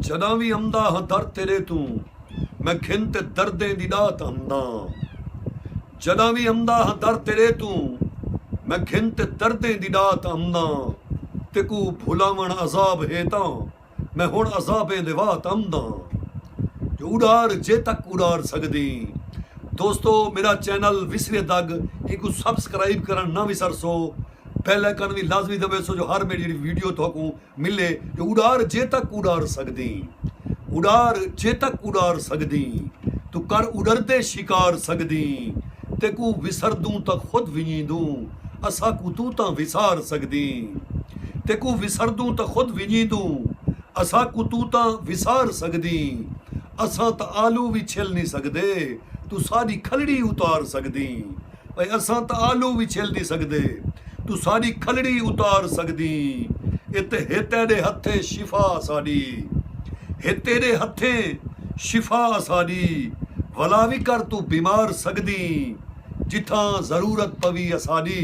جݙاں وی امدا ہاں در تیݙے توں میں گھن تے دردیں دی ݙات امداں جݙاں وی امدا ہاں در تیݙے توں میں گھن تے دردیں دی ݙات امداں تیکوں بھلاوݨ عذاب ہے تاں میں ہݨ عذابیں دے وات امداں جو اݙار جے تک اݙار سڳدیں دوستو میݙا چینل وسرے دڳ اینکوں سبسکرائب کرݨ نہ وسرسو بیل آئیکن وی لازمی دٻیسو جو ہر میݙی جیڑھی ویڈیو تہاکوں ملے تے اڈار جیتک اڈار سگدیں اڈار جیتک اڈار سگدیں توں کر اڈردے شکار سگدیں تیکوں وسردوں تاں خود ونجیندوں اساکوں توں تاں وسار سگدیں تیکوں وسردوں تاں خود ونجیندوں اساکوں توں تاں وسار سگدیں اساں تاں آلو وی چھل نی سگدے توں ساڈی کھلڑی اتار سگدیں۔ اے اساں تاں آلو وی چھل نی سگدے توں ساڈی کھلڑی اتار سگدیں اے تے ہے تیڈے ہتھے شفا اساڈی ہے تیڈے ہتھے شفا اساڈی ولا وی کر توں بیمار سگدیں جتھاں ضرورت پوی اساڈی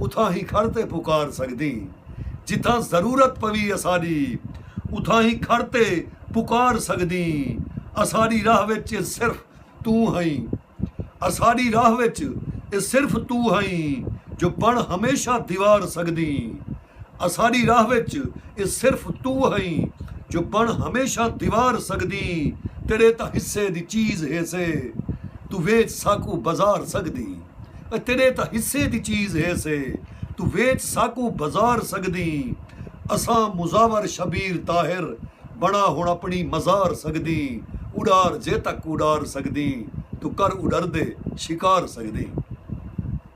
اتھاں ہی کھڑ تے پکار سگدیں جتھاں ضرورت پوی اساڈی اتھاں ہی کھڑ تے پکار سگدیں اساڈی راہ وچ صرف توں ہئیں۔ اساݙی راہ وچ اے صرف توں ہئیں جو بݨ ہمیشہ دیوار سڳدیں اساݙی راہ وچ اے صرف توں ہئیں جو بݨ ہمیشہ دیوار سڳدیں تیݙے تاں حصے دی چیز ہیسے توں ویچ ساکوں بازار سڳدیں اے تیݙے تاں حصے دی چیز ہیسے توں ویچ ساکوں بازار سڳدیں اساں مزاور شبیر طاہر بݨا ہݨ اپݨی مزار سڳدیں اݙار جے تک اݙار سڳدیں توں کر اݙردے شکار سڳدیں۔